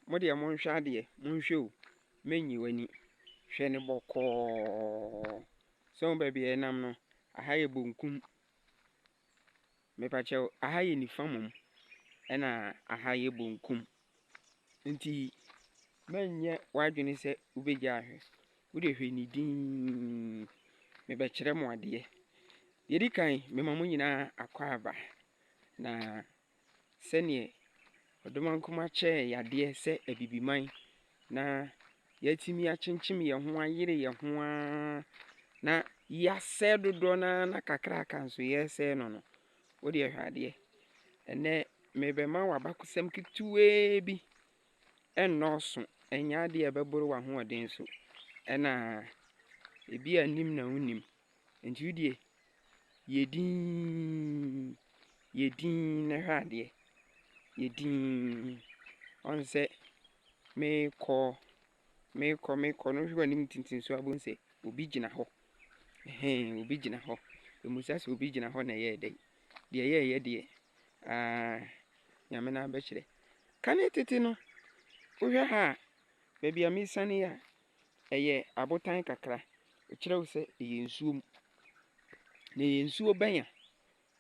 Mo deɛ monhwɛ adeɛ, monhwɛ o, mɛnyi w'ani, hwɛ no bɔkɔɔ. Sɛ wohu baabi a ɛnam no, aha yɛ bonkum, mepakyɛ wo, aha yɛ nifa mmom, ɛna aha yɛ bonkum. Nti mɛnyɛ w'adwene sɛ wobɛgya ahwɛ, wo deɛ hwɛ no dinn, mebɛkyerɛ mo adeɛ. Deɛ ɛdi kan, mema mo nyinaa akwaaba, na sɛdeɛ Ɔdomankoma kyɛɛ yadeɛ sɛ Abibiman na yɛatumi akyenkyem yɛn ho ayere yɛn ho ara na yɛasɛe dodoɔ no ara na kakraka nso yɛresɛe no no, wo deɛ hwɛ adeɛ. Ɛnnɛ merebɛma wo abakɔsɛm ketewaa bi ɛnnɔɔso, ɛnyɛ adeɛ a ɛbɛboro w'ahoɔden so, ɛna ebi a nim na wonim. Enti wo deɛ, yɛ dinn, yɛ dinn na hwɛ adeɛ. Yɛ dinn. Ɔn sɛ meekɔ, meekɔ, meekɔ no, wohwɛ w'anim tenten so a, wobɛhu sɛ obi gyina hɔ. Ɛhɛn, obi gyina hɔ. Ɛmmisa sɛ obi gyina hɔ na ɛyɛɛ dɛn. Deɛ yɛɛyɛ deɛ, aa, Nyame no abɛkyerɛ. Kane tete no, wohwɛ ha a, baabi a meesiane yi a, Ɛyɛ abotan kakra. Ɛkyerɛ wo sɛ ɛyɛ nsuo mu. Na ɛyɛ nsuo bɛnya.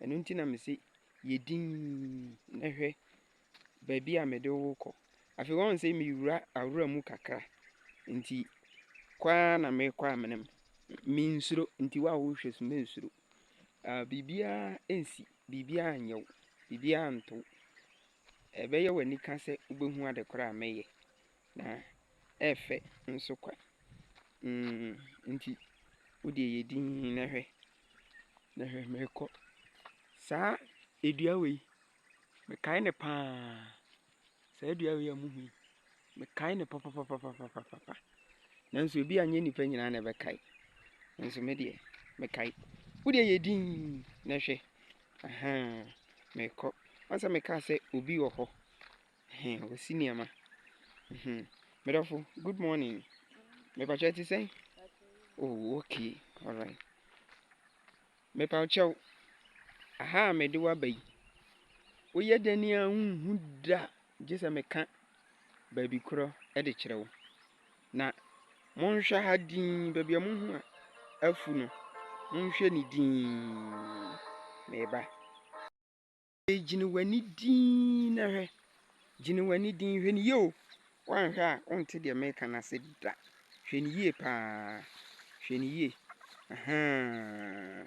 Ɛno nti na mese yɛ dinn na hwɛ baabi a mede wo rekɔ. Afei woahu sɛ mewura awura mu kakra. Nti kɔ ara na merekɔ amena mu. Mensuro nti wo a worehwɛ so mensuro. Ah, biribiara nsi, biribiara nyɛ wo, biribiara nto wo. Ɛbɛyɛ w'anika sɛ wobɛhu adekorɔ a mɛyɛ. Na ɛyɛ fɛ nso kwa. Mm, nti wo deɛ yɛ dinn na hwɛ, na hwɛ merekɔ. Saa dua wei, mekae no paa. Saa dua wei a mohu yi, mekae no papapapapapapa. Nanso ebia nyɛ nnipa nyinaa na ɛbɛkae. Nanso me deɛ, mekae. Wo deɛ yɛ dinn na hwɛ. Ahaa, merekɔ. Woahu sɛ mekaa sɛ obi wɔ hɔ? Ɛhɛn, wɔsi nneɛma. Mhm. Me dɔfo, good morning. Mepa kyɛw, ɛte sɛn? Oh, okay, alright. Mepa kyɛw, aha a mede wo aba yi, woyɛ dɛn a wonhu da gye sɛ meka baabi korɔ de kyerɛ wo. Na monhwɛ ha dinn, baabi a mohu a afu no, monhwɛ ne dinn. Meba. Afei gyina wɔn ani dinn na hwɛ. Gyina wɔn ani dinn. Hwɛ no yie o. Woanhwɛ a wonte deɛ mereka no ase da. Hwɛ no yie paa. Hwɛ no yie. Ahaa.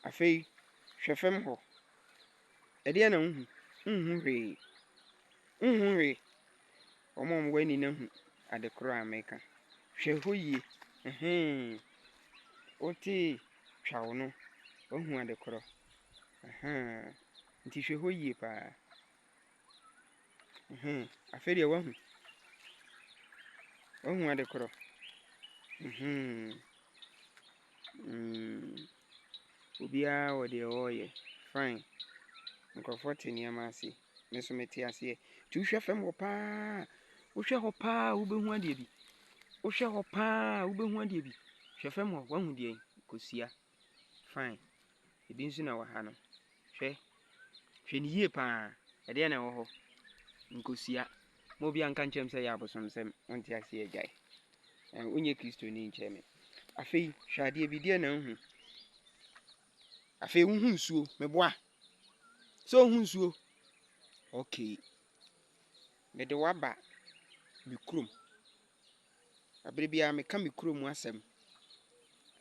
Afei hwɛ fam hɔ. Ɛdeɛn na wohu? Wonhu hwee. Wonhu hwee. Wɔn a wɔwɔ ani no ahu ade korɔ a meka. Hwɛ hɔ yie, ɛhee. Wote twaw no, woahu ade korɔ. Ahaa, nti hwɛ hɔ yie paa. Ɛhee, afei deɛ woahu. Woahu ade korɔ. Ɛhee, mm. Obiara wɔ deɛ ɔreyɛ, fine. Nkurɔfoɔ te nneɛma ase, me nso mete aseɛ. Nti wohwɛ fam hɔ pa ara, wohwɛ hɔ pa ara a, wobɛhu adeɛ bi. Wohwɛ hɔ pa ara a, wobɛhu adeɛ bi. Hwɛ fam hɔ, woahu deɛn? Kosua, fine. Ebi nso na ɛwɔ ha no. Hwɛ, hwɛ no yie pa ara, ɛdeɛ na ɛwɔ hɔ, nkosua. Ma obiara nka nkyerɛ me sɛ ɛyɛ abosomsɛm, wonte aseɛ, gyae. Ɛn, wonyɛ Kristoni nkyerɛ me. Afei, hwɛ adeɛ bi, deɛ na wohu. Afei, wohu nsuo, meboa. Sɛ wohu nsuo, okay. Mede wo aba me kurom. Bere biara meka me kurom asɛm.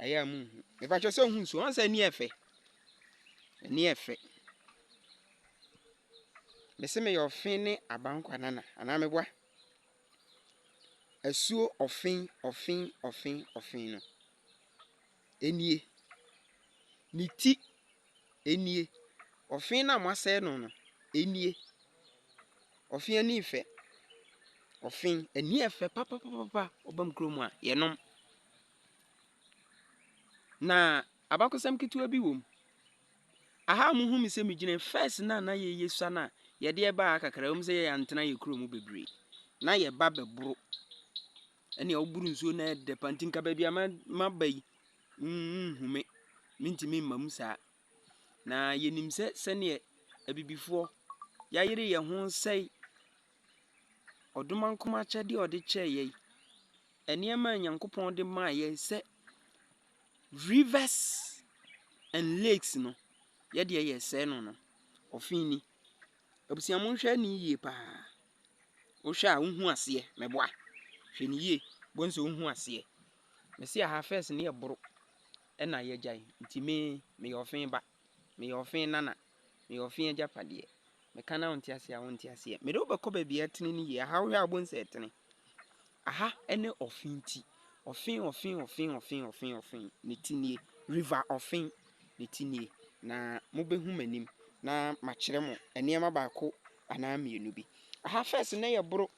Ɛyɛ a munhu. Mepakyɛ sɛ ohun so. Ɔn sɛ ani ɛfɛ. Ani ɛfɛ. Mese meyɛ ɔfe ne abankwa nana anaa meboa. Asuo ɔfe ɔfe ɔfe ɔfe no. nie, ne ti nie, ɔfe no a moasɛe no no nie, ɔfe ani fɛ, ɔfe ani yɛ fɛ papapapa, woba me kurom a yɛnom. Na abakɔsɛm ketewa bi wɔ mu, aha a mohu me sɛ megyina yi, first no a na yɛyɛ sua no a, yɛdeɛ baa ha kakra, ɛwom sɛ yɛantena yɛn kurom bebree, na yɛba bɛboro Ɛnea woboro nsuo no ayɛ dɛ paa nti nka baabi a ma maba yi nhu me, mentumi mma mu saa. Na yɛnim sɛ sɛdeɛ abibifoɔ yɛayere yɛn ho sɛe ɔdomankoma akyɛdeɛ a ɔde kyɛɛ yɛn, nneɛma a Onyankopɔn de maa yɛn sɛ rivers and lakes no, yɛdeɛ yɛresɛe no no. Ɔfe ni. Abusua monhwɛ no yie paa. Wohwɛ a wonhu aseɛ, mɛboa. Hwɛ no yie, wobɛhu sɛ wonhu aseɛ. Mese aha first no yɛboro ɛna yɛgyae. Nti me, meyɛ ɔfe ba, meyɛ ɔfe nana, meyɛ ɔfe agyapadeɛ. Meka no a wonte aseɛ a wonte aseɛ. Mede wo bɛkɔ baabi a ɛtene no yie. Aha wohwɛ a wobɛhu sɛ ɛtene. Aha ɛne ɔfe ti. Ɔfe, ɔfe, ɔfe, ɔfe, ɔfe, ɔfe. Ne ti nie. River ɔfe. Ne ti nie. Na mobɛhu m'anim na makyerɛ mo nneɛma baako anaa mmienu bi. Aha fɛs no yɛ boro.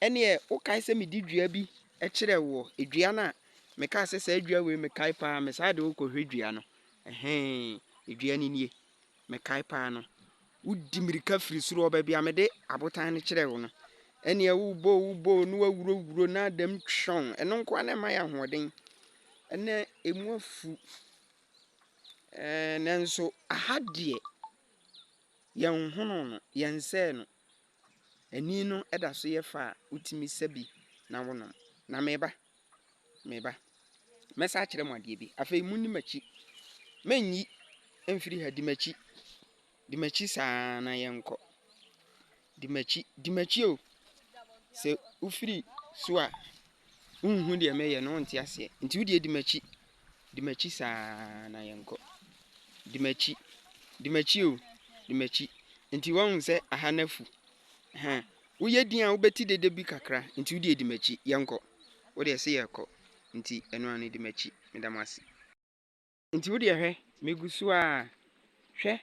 Ɛneɛ wokae sɛ mede dua bi kyerɛ woɔ, dua no a mekaa sɛ saa dua wei mekae paa me saa de wokɔhwɛ dua no ɛhɛn dua no nie mekae paa no wodi mmirika firi soro ɔba bi a mede abotan no kyerɛ wo no ɛneɛ wobɔ wobɔ no wawurowuro na adam twɔn ɛno nkoa na ɛma yɛ ahoɔden ɛnɛ ɛmu afu ɛɛ nanso aha deɛ Yɛnhono no, yɛnsɛe no. Ani no da so yɛ fɛ a, wotumi sa bi na wonom. Na me ba, me ba, mɛsan akyerɛ mo adeɛ bi. Afei monni m'akyi. Mennyi mfiri ha, di m'akyi. Di m'akyi saa na yɛnkɔ. Di m'akyi, di m'akyi o. Sɛ wofiri so a, wonhu deɛ mɛyɛ no, wonte aseɛ. Nti wo deɛ di m'akyi, di m'akyi saa na yɛnkɔ. Di m'akyi, di m'akyi o, di m'akyi. Nti woahu sɛ aha no afu. Ɛhɛn, woyɛ din a wobɛte dede bi kakra, nti wo deɛ di m'akyi, yɛnkɔ. Wo deɛ se yɛkɔ, nti ɛno ara no di m'akyi, meda mo ase. Nti wodeɛ hwɛ, megu so ara, hwɛ,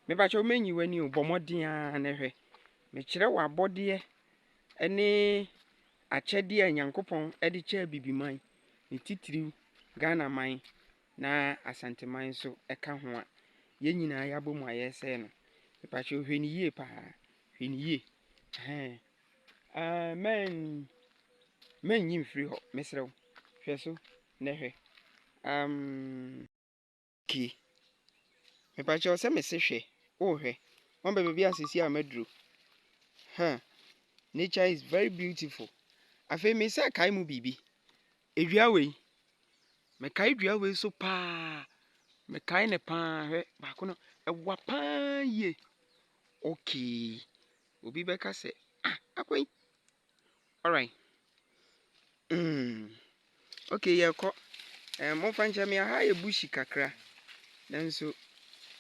mepakyɛw mɛnyi w'ani o, bɔ mmɔden ara na hwɛ, mekyerɛ wo abɔdeɛ ne akyɛdeɛ a Nyankopɔn de kyɛɛ Bibiman, ne titiriw Ghanaman na Asanteman nso ka ho a, yɛn nyinaa yɛabɔ mu a yɛresɛe no. Mepakyɛw hwɛ no yie paa, hwɛ no yie, ɛhɛn, ɛɛ mɛn, mɛnyi mfiri hɔ, mesrɛ wo, hwɛ so, Nɛ hwɛ amm. Ki. Mepakyɛw sɛ mese hwɛ oh hwɛ Wan bɛ baabi a sesie a maduro huh Nature is very beautiful Afei mesa kae mu biribi Edua wei Mekae dua wei so paa Mekae no paa Hwɛ baako no Ɛwa paa yie Okay Obi bɛka sɛ ah Akwa yi Alright mm okay yɛkɔ eh, momfa nkyɛ me aha yɛ bushi kakra nanso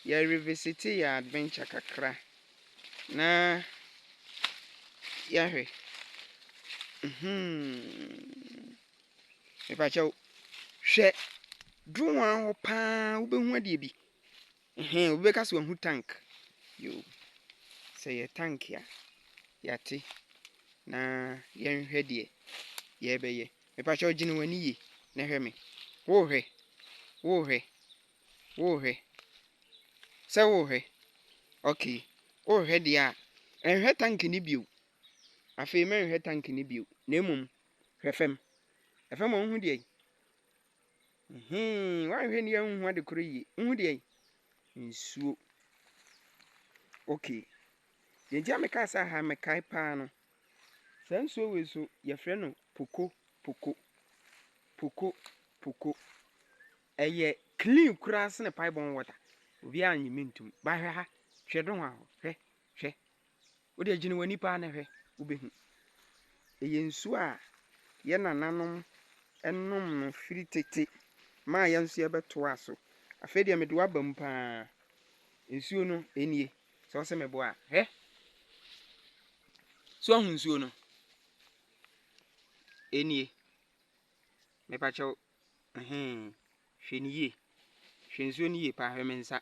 yɛ revisite yɛ adventure kakra na yɛahwɛ mhm mepakyɛw hwɛ dronwa hɔ paa wobɛhu adeɛ bi Ɛhɛn, obi bɛka sɛ wahu tank. Yoo, sɛ ɛyɛ tank a, yɛate, na yɛnhwɛ deɛ yɛrebɛyɛ. Mepa kyɛw, gyina w'ani yie na hwɛ me. Worehwɛ? Worehwɛ? Worehwɛ? Sɛ worehwɛ? Okay. Worehwɛ deɛ a, nhwɛ tank no bio. Afei mɛnhwɛ tank no bio, na mmom hwɛ fam. Fam hɔ wohu deɛ? Hee, woanhwɛ ni anhu ade koro yie. Nhu deɛ nsuo. Okay. Deɛ nti a mekaa sɛ aha mekae paa no, saa nsuo wei so yɛfrɛ no poko poko. Poko poko. Ɛyɛ clean koraa sene paebɔn water. Obiara nnye me ntom. Bahwɛ ha, hwɛ do ho a hɔ, hwɛ, hwɛ, Wo deɛ gyina w'ani paa na hwɛ, wobɛhu. Ɛyɛ nsuo a yɛn nananom nom no firi tete maa yɛn nso yɛbɛtoaa so. Afei deɛ mede wo aba mu paa. Nsuo no, ɛnie. Sɛ wo sɛ meboa a, hwɛ. So ahu nsuo no? Ɛnie. Mepakyɛw. Ɛhɛn, hwɛ no yie. Hwɛ nsuo no yie paa, hwɛ me nsa.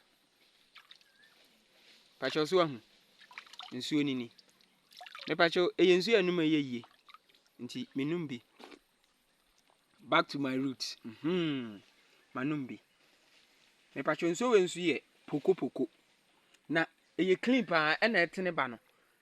Mepa kyɛw so wahu? Nsuo no ni. Mepa kyɛw, ɛyɛ nsuo a ɛnom yɛ yie, nti menom bi. Back to my root, mhmm, manom bi. Mepa kyɛw, nsuo wei nso yɛ pokopoko, na ɛyɛ clean paa, ɛna ɛtene ba no.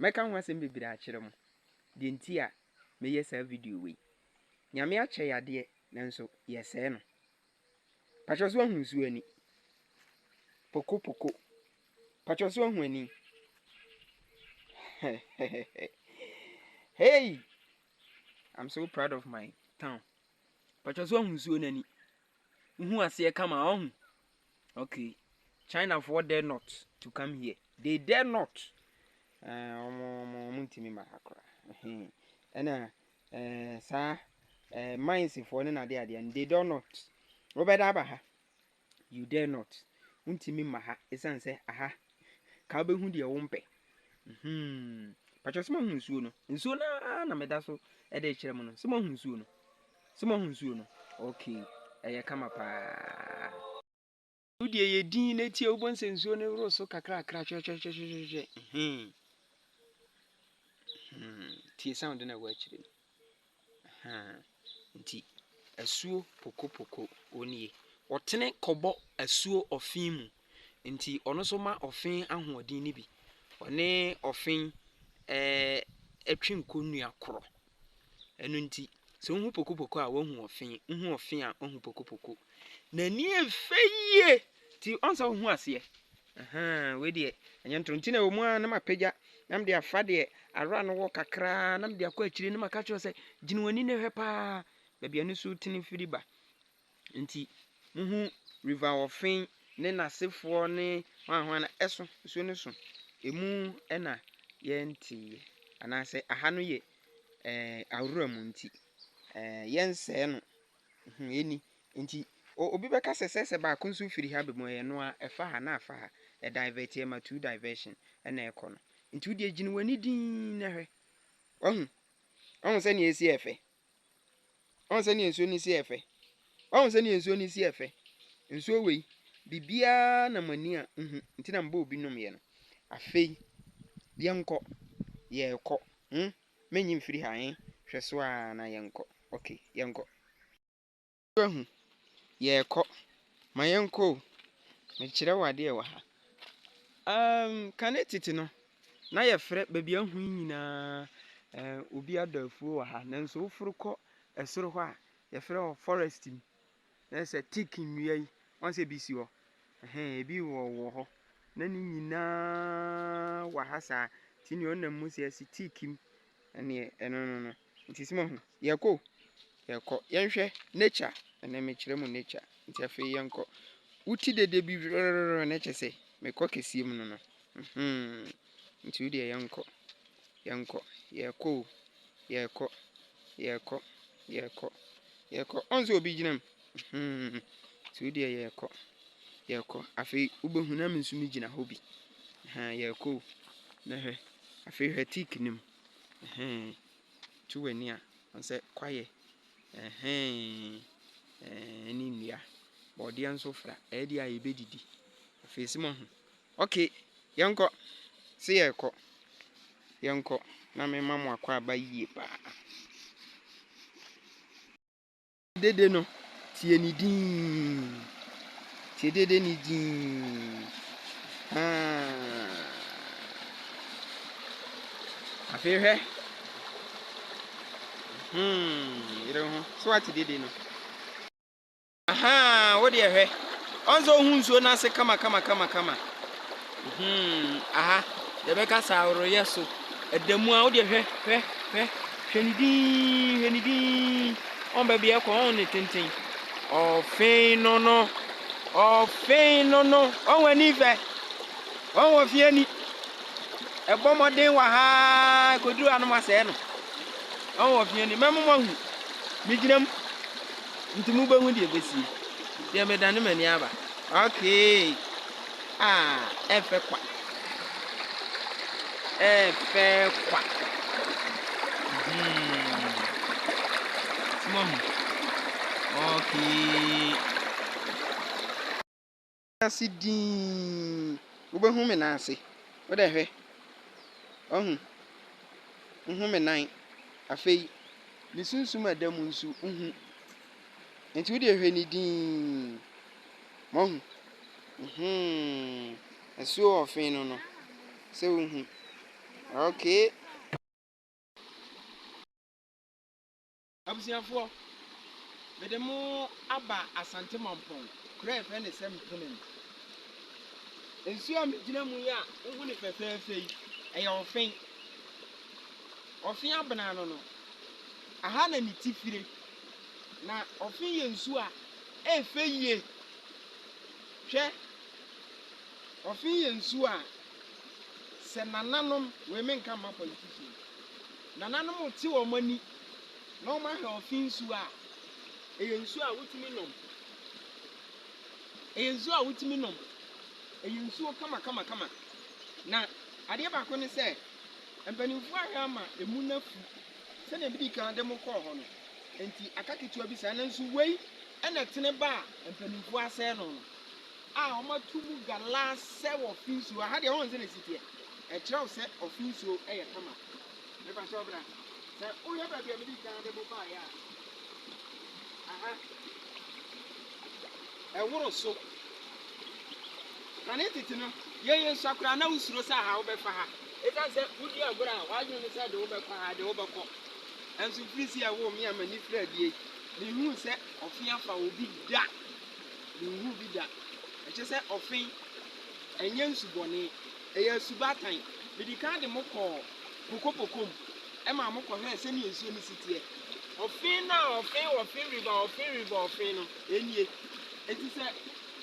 Mɛka ho asɛm bebree akyerɛ mo, deɛ nti a meyɛ saa video wei. Nyame akyɛ yadeɛ nanso yɛsɛɛ no. Pakyɛ so ahu nsuo ani? Poko poko. Pakyɛ so ahu ani? hey! I'm so proud of my town. Pakyɛ so ahu nsuo no ani? Wohu aseɛ kama ɔhu? Ok China foɔ dare not to come here they dare not eh, ɔmo ɔmo ɔmo ntumi ma ha koraa ɛhɛn ɛna eh, saa eh, mines foɔ ne n'ade adeɛ no they dare not wobɛda aba ha you dare not wontumi ma ha ɛsiane sɛ aha ka wobɛhu deɛ wompɛ hmm. patwɛ sɛ mahu nsuo no nsuo no ara na meda so ɛde kyerɛ mu no sɛ mahu nsuo no Sɛ moahu nsuo no? Ok, ɛyɛ kama paa. Wo deɛ yɛ din na tie wobɔ nsɛ nsuo no woro so kakrakra hwɛhwɛhwɛhwɛhwɛ hmm hmm tie sound na ɛwɔ akyire no hmm nti asuo pokopoko onie ɔtene kɔbɔ asuo ɔfen mu nti ɔno nso ma ɔfen ahoɔden no bi ɔne ɔfen ɛɛ ɛtwe nkonnua korɔ. Ɛno nti, sɛ wohu pokopoko a, woahu ɔfe. Wohu ɔfe a, woahu pokopoko. N'ani yɛ fɛ yie nti ɔn sɛ wohu aseɛ. Ahaa, wei deɛ ɛnyɛ ntoro nti na ɛwɔ mu ara na mapagya na mede afa deɛ awura no wɔ kakraa na mede akɔ akyire na maka kyerɛ sɛ gyina w'ani na hwɛ paa baabi a ne su tene firi ba. Enti muhu River of Fen ne n'asefoɔ ne hwan hwan no ɛso, nsuo no so. Emu na yɛnteeɛ, anaasɛ aha no yɛ ɛɛ awura mu nti ɛɛ yɛnsɛɛ no. Hmm, ɛni. Nti o- obi bɛka sɛ sɛ sɛ baako nso firi ha ba mu a, ɛyɛ no ara, ɛfa ha na afa ha. Ɛdivɛte, ɛma two diversion na ɛkɔ no. Nti wo deɛ gyina w'ani dinn na hwɛ. Wahu? Wahu sɛdeɛ ɛsi yɛ fɛ? Wahu sɛ ne nsuo no si ɛfɛ? Wahu sɛ ne nsuo no si ɛfɛ? Nsuo wei, biribiara na mo ani a nhu, nti na mobɔɔ bi nomyɛ no. Afei, yɛnkɔ, yɛrekɔ, hmm, mɛnyi mfiri ha, eh, hwɛ so ara na yɛnkɔ, ok, yɛnkɔ. Wahu. Yɛrekɔ. Ma yɛnkɔ o. Mekyerɛ wo adeɛ wɔ ha. Um, kane tete no, na yɛfrɛ baabi ahu yi nyinaa eh, obi adɔ afuo wɔ ha. Nanso woforo kɔ ɛsoro hɔ a, yɛfrɛ hɔ forest mu. Na sɛ tik nnua yi, wɔn sɛ ebi si hɔ. Ɛhɛn, ebi wɔ wɔ hɔ. Na ne nyinaa wɔ ha saa. Ti nea ɔnam mu sɛ ɛsi tik mu. Ɛneɛ ɛno no no nti sɛ moahu yɛkɔ o yɛkɔ yɛnhwɛ nature ɛnɛ mekyerɛ mu nature nti afei yɛnkɔ woti dede bi rrrr na kyɛ sɛ mekɔ kɛseɛ mu no no hmm nti wodeɛ yɛnkɔ yɛnkɔ yɛkɔ o yɛkɔ yɛkɔ yɛkɔ yɛkɔ ɔn sɛ obi gyina mu. Hmm, nti wo deɛ yɛrekɔ, yɛrekɔ. Afei wobɛhu na me nso megyina hɔ bi. Ɛhɛn, yɛrekɔ o. Na hwɛ, afei hwɛ tik no mu. Ɛhɛn, tu w'ani a, hu sɛ kwaeɛ. Ɛhɛn, ɛɛ, ne nnua. Bɔɔdeɛ nso fra, ɛyɛ deɛ a yɛbɛdidi. Afei sɛ moahu. Ok, yɛnkɔ. Se yɛrekɔ. Yɛnkɔ na mema mo akwaaba yie paa. Dede no, tie ne din. Tie dede ne din. Afei hwɛ. Hmm, yere ho. So ate dede no. Aha, wo deɛ hwɛ. Ɔnsɛ ohun nsuo n'ase kama kama kama kama. Hmm, aha, yɛbɛka saa ahorow yɛ so. Ɛda mu a, wo deɛ hwɛ, hwɛ, hwɛ, hwɛ ne din, hwɛ ne din. Ɔn baabi a ɛkɔ, ɔn ne tenten. Ɔfen no no, ɔfen no no, ɔn w'ani fɛ, ɔn wɔ fie ni. Ɛbɔ mmɔden wɔ ha, ɛkɔduru anom asɛe no. Ɔn wɔ fie ni, mɛmo mo ahu. Megyina mu, nti mobɛhu deɛ ɛbɛsie. Deɛ medane m'ani aba. Okay. A, ɛrefɛ kwa. Ɛrefɛ kwa. Hmm. Smohu. Okay. Ase dii. Wobɛhu me nan ase. Wodɛ hwɛ. Wahu. Wohu me nan. Afei, me sunsum a ɛda mu nso, wohu. Nti wode hwɛ ne dii. Moahu? Mhmm. Asuo ɔfe no no, sɛ wohu. Okay. Abusuafoɔ, mede mo aba Asante Mampong, kuro a yɛfrɛ no sɛ Mpene mu. Nsuo a megyina mu yi a wohu no fɛfɛɛfɛ yi, ɛyɛ ɔfe. Ɔfe abena no no, aha na ne ti fire. Na ɔfe yɛ nsu a ɛyɛ fɛ yie. Hwɛ, ɔfe yɛ nsu a sɛ nananom, wei menka mma politician, nananom te wɔn ani na wɔahwɛ ɔfe nsuo a, ɛyɛ nsuo a wotumi nom. Ɛyɛ nsuo a wotumi nom. Ɛyɛ nsuo kamakamakama. Na adeɛ baako ne sɛ, mpanimfoɔ ahwɛ ama ɛmu no afu Sɛnea midi kan de mo kɔɔ hɔ no nti, aka ketewa bi saa, nanso wei na ɛtene ba a mpanimfoɔ asɛe no no, a wɔato mu galaa sɛ wɔ fi nsuo, aha deɛ wɔn sɛ na ɛsi teɛ, ɛkyerɛ wo sɛ ɔfi nsuo yɛ kama. Mepa kyɛw bra, sɛ wohwɛ baabi a midi kan de mo baeɛ a, aha, ɛworo so. Kane tete no, yɛn yɛn sua koraa na wosuro sɛ aha wobɛfa ha. Esiane sɛ wudi agorɔ a w'adwene ne sɛ de wo bɛkɔ ha, de wo bɛkɔ. Nanso Fris a ɛwoo me a m'ani firi adie, menhuu sɛ ɔfe afa wo bi da. Menhuu bi da. Ɛkyerɛ sɛ ɔfe ɛnyɛ nsubɔne, ɛyɛ asubatan. Medi kan de mo kɔɔ Pokopoko mu, ɛmaa mo kɔhwɛɛ sɛdeɛ nsuo no si teɛ. Ɔfe no a ɔfe ɔfe river ɔfe river ɔfe no, ɛnie. Enti sɛ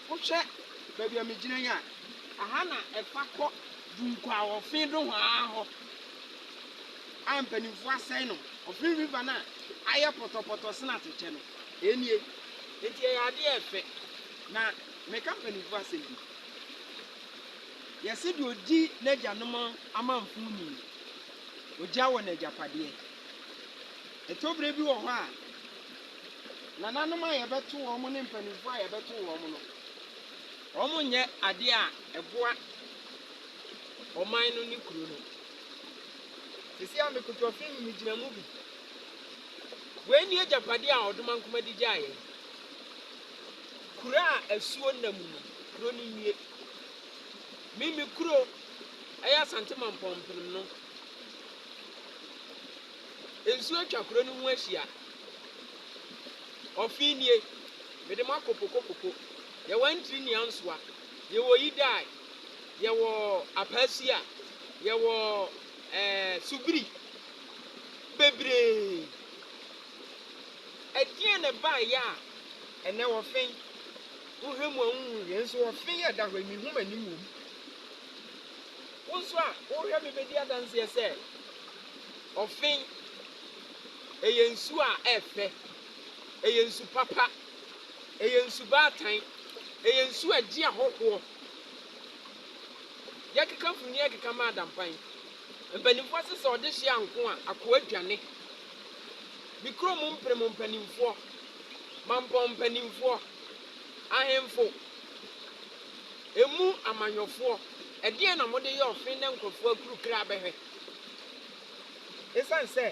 wohwɛ baabi a megyina yi a, aha na ɛfa kɔ. Dunkwa wɔ fi nohoaa hɔ a mpanimfoɔ asɛe no, ɔfi river no a ayɛ pɔtɔpɔtɔ sene atɛkyɛ no, ɛnie. Enti ɛyɛ adeɛ a ɛfɛ, na meka mpanimfoɔ asɛm bi, yɛse deɛ ɔdi n'agyanom amanfo ni no, ɔgya wɔ n'agyapadeɛ. Ɛtɔ berɛ bi wɔ hɔ a, nananom a yɛbɛto wɔn ne mpanimfoɔ a yɛbɛto wɔn no, Wɔnyɛ adeɛ a ɛboa ɔman no ne kuro no. Seesei a mekoto afe no mu megyina mu bi. Wei ne agyapadeɛ a Ɔdomankoma de gyaa yɛn. Kuro a asuo nna mu no, kuro no nnue. Me me kuro ɛyɛ Asante Mampɔn mpenem no. Nsuo atwa kuro no ho ahyia. Ɔfe nie mede mo akɔ pokopoko. Yɛwɔ Antwi ne Ansoa, yɛwɔ Yidae, yɛwɔ Apasia, yɛwɔ ɛɛ Subiri, bebree. Ɛdeɛn na ɛbaeɛ a ɛnnɛ wɔfe? Wohwɛ mu a wonhu hwee nso wɔfe yɛ da hɔ yi, mehu m'anim wom. Wo nso a wohwɛ me bɛdi adanseɛ sɛ ɔfe, ɛyɛ nsuo a ɛyɛ fɛ, ɛyɛ nsu papa. Ɛyɛ nsubaatan. Ɛyɛ nsu a ɛgye ahɔhoɔ. Yɛkeka funu yɛkeka ma adampan. Mpanimfoɔ se sɛ ɔde hye anko a, akoa dwane. Me kurom mprem mpanimfoɔ, mampɔn mpanimfoɔ, ahemfo, emu amanyɔfoɔ, ɛdeɛn na mode yɛ ɔfe na nkurɔfoɔ akuru kra bɛhwɛ? Esiane sɛ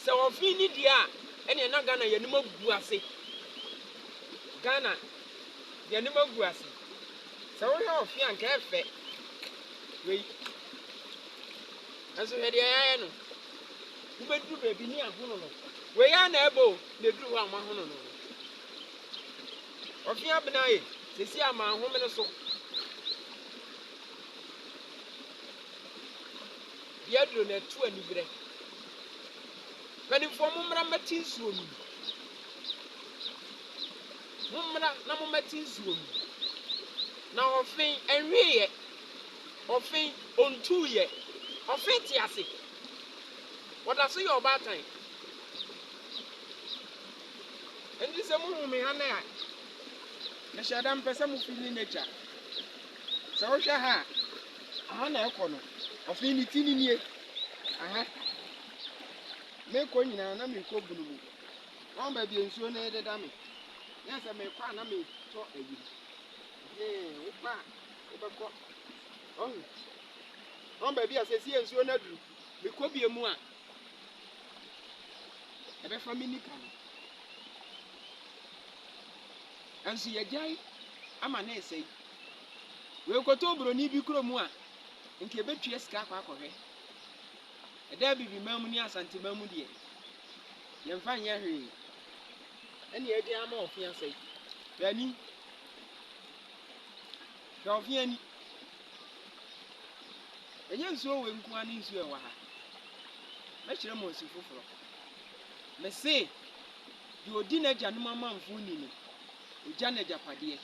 sɛ wɔfe ne deɛ a ɛneɛ na Ghana yɛn anim agu ase. Ghana yɛn anim agu ase. Sɛ wohwɛ ɔfe a nka ɛfɛ wei. Nanso hwɛ deɛ yɛayɛ no. Wobɛduru baabi ne ahono no. Wei ara na ɛbɔ o na ɛduru hɔ a wɔahono no no. Ɔfe abena e, sɛsi a manhome no so. Yɛ duru na ɛto aniberɛ. Mpanimfoɔ mommra mmɛte nsuo nom. Mommra na mommɛte nsuo nom. Na ɔfe ɛnweeɛ. Ɔfe ɔntuuiɛ. Ɔfe te ase. Ɔda so yɛ ɔbaatan. Ɛnti sɛ mohu me ha nnɛ a, mehyɛ da mpɛ sɛ mo feeli nature. Sɛ wohwɛ ha a, aha na ɛkɔ no. Afei ne ti no nie. Aha. Mekɔ nyinaa na mekɔ bunu mu. Wɔn baabi a nsuo no deda me. Yɛ sɛ mekɔ a na metɔ ayi. Hee, wokɔ a, wobɛkɔ. Ɔhu. Wɔn baabi a sɛsi yɛ nsuo no aduru. Mekɔ bie mu a, ɛbɛfa me nipa no. Nso yɛgyae ama ne ɛsɛe. Oekɔtɔ obroni bi kuro mu a, nka ebetua sika akɔ akɔhwɛ. Ɛda Abibiman mu ne Asanteman mu deɛ, yɛmfa nyɛ hwee. Ɛne ɛde ama ɔfe asɛe. Hwɛ ani. Hwɛ ɔfe ani. Ɛnyɛ nsuo wei nko ara ne nsuo ɛwɔ ha. Mɛkyerɛ mo nsu foforɔ. Mese, deɛ ɔdi n'agyanom amanfoɔ ni no, Ogya n'agyapadeɛ.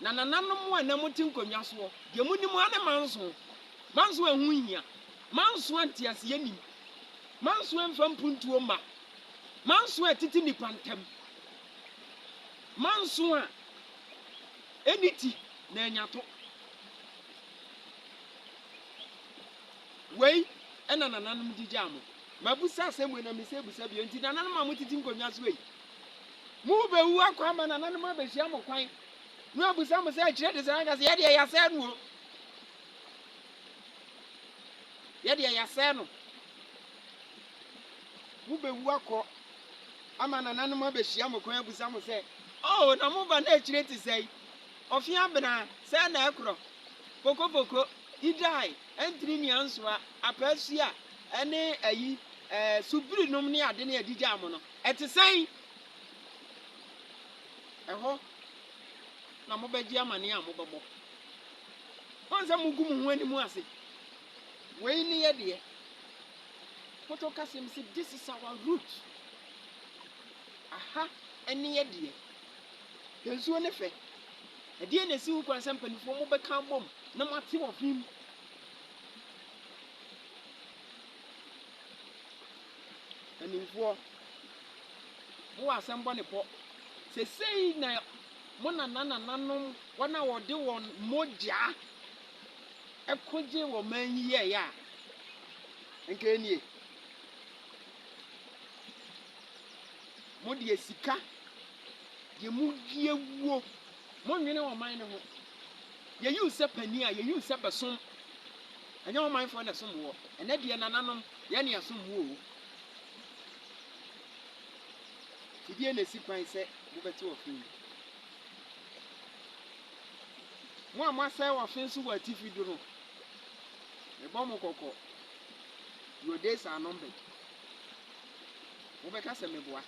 Na nananom mo a na mote nkonnwa soɔ, deɛ monim ara ne manso. Manso a ɛho nhia. Manso a nteaseɛ nnim. Manso a ɛmfa mpuntuo mma. Manso a ɛtete nnipa ntam. Manso a ɛnni ti na ɛnya to. Wei na nananom gyigyaa mo. Mabisa asɛm wei na mese bisa bio. Enti nananom a motete nkonnwa soɔ yi, Morebewu akɔ ama nananom abehyia mo kwan, na wɔabisa mo sɛ, Akyire de sɛn? Moaka sɛ, Yɛdeɛ, yɛasɛe no o! Yɛdeɛ, yɛasɛe no! Mobewu akɔ ama nananom abehyia mo kwan abisa mo sɛ, Oo, na mo ba no akyire te sɛn? Ɔfe abena sɛn na ɛkorɔ? Pokopoko, idae, antiri ne ansoa, apaa sua, ne ayi, ɛɛ, subirenom ne ade ne adigyaa mo no? Ɛte sɛn? Ɛhɔ na mobɛgye amanneɛ a mobɛbɔ. Wɔn sɛ mogu mo ho anim ase. Wei ne yɛ deɛ. Moto kasem se this is our root. Aha ne yɛ deɛ. Yɛn nsuo ne fɛ. Ɛdeɛn na ɛsi ho kwan sɛ mpaninfoɔ mobɛka abom na moate wɔ fim? Mpanimfoɔ, mowɔ asɛm bɔ ne pɔ. Seesei na mo nananananom, wɔn a wɔde wɔn mogya ko gyee ɔman yi yɛeɛ a, anka ɛnnie. Mo deɛ sika, deɛ mo wie wuo, mo nnwene ɔman no ho. Yɛyi wo sɛ panin a, yɛyi wo sɛ bɛsom. Ɛnyɛ wo manfoɔ na ɛsom woɔ. Ɛnɛ deɛ nananom yɛ na yɛsom mo oo. Fidie na ɛsi kwan sɛ mobɛte ɔfe yi. Mo a moasɛe ɔfe so wɔ atifi do no, mebɔ mo kɔkɔ, your days are numbered. Mobɛka sɛ meboa.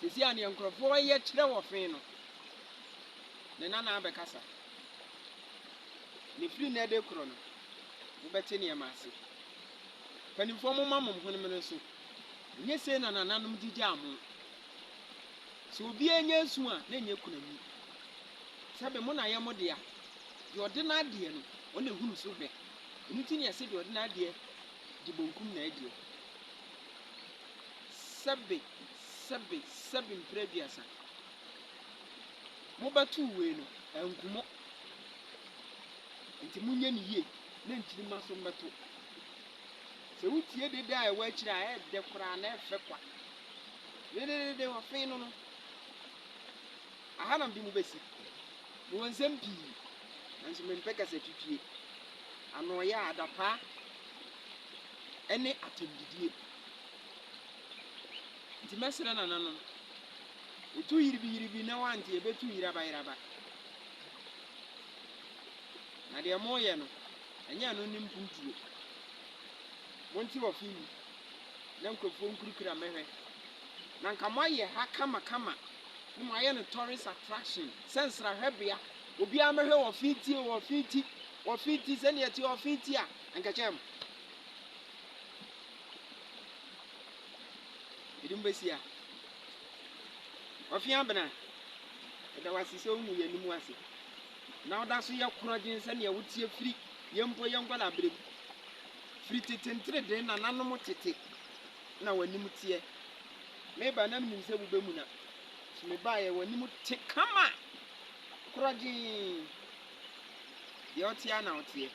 Seesei a nea nkurɔfoɔ reyɛ kyerɛ ɔfe no, ne nana abɛkasa. Na ɛfiri nnɛ de rekorɔ no, mobɛte nneɛma ase. Mpanimfoɔ, momma mo hwenem no so, ɛnyɛ sei na nananom gyigyaa mo. Sɛ obiara nya nsu a, na ɛnyɛ kunani. Sɛbe mo na yɛ mo dea. Deɛ ɔde n'adeɛ no, ɔna ɛhunu so bɛ. Ɛno nti na yɛse deɛ ɔde n'adeɛ di bonkum na ɛdeɛ. Sɛbe, sɛbe, sɛbe mprɛ aduasa. Mobɛtow wei no, anku mo. Enti monyɛ no yie na nkyirimma nso mmɛto. Sɛ wotie dede a ɛwɔ akyiri a, ɛyɛ dɛ koraa na ɛfɛ kwa. Dededede wɔfee no no, aha na mede mo bɛsi. Mewɔ nsɛm pii, nanso mempɛ kasatwitwie, anoɔyɛ a adapaa ne atɛmdidie. Enti mɛsrɛ nananom Etu yiribiyiribi na woante a, ebetu yerabayeraba. Na deɛ moreyɛ no, ɛnyɛ ɛno ne mpuntuo. Monte wɔ fie yi, na nkurɔfoɔ nkurukura mmɛhwɛ. Na anka moayɛ ha kamakama, na moayɛ no tourist attraction, sɛ nsrahwɛbea. Obiara mmɛhwɛ wɔ fie ti o, wɔ fie ti, wɔ fie ti, sɛdeɛ ɛteɛ wɔ fie ti a, anka ɛkyɛn mo. Yɛde mo bɛsi ha. Ɔfe Abena, yɛda wo ase sɛ wohu yɛn anim ase na woda so yɛ korɔgyen sɛnea woteɛ firi yɛn mpo yɛn nkwadaa berɛ mu. Firi tete nteredee nananom tete na w'anim teɛ. Meba na menim sɛ wobɛmuna. So mebaeɛ w'anim te kama korɔgyen. Deɛ woteɛ na woteɛ.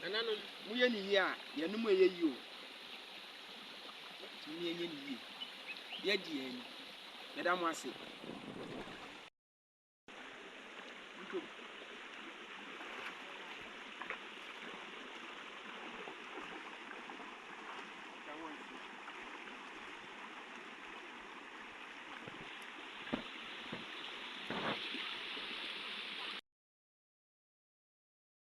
Nananom, moyɛ ne yie a, yɛn anom ɛyɛ yie o. Tumi enye ne yie. Yɛ di yɛ ni. Yɛ da mo ase.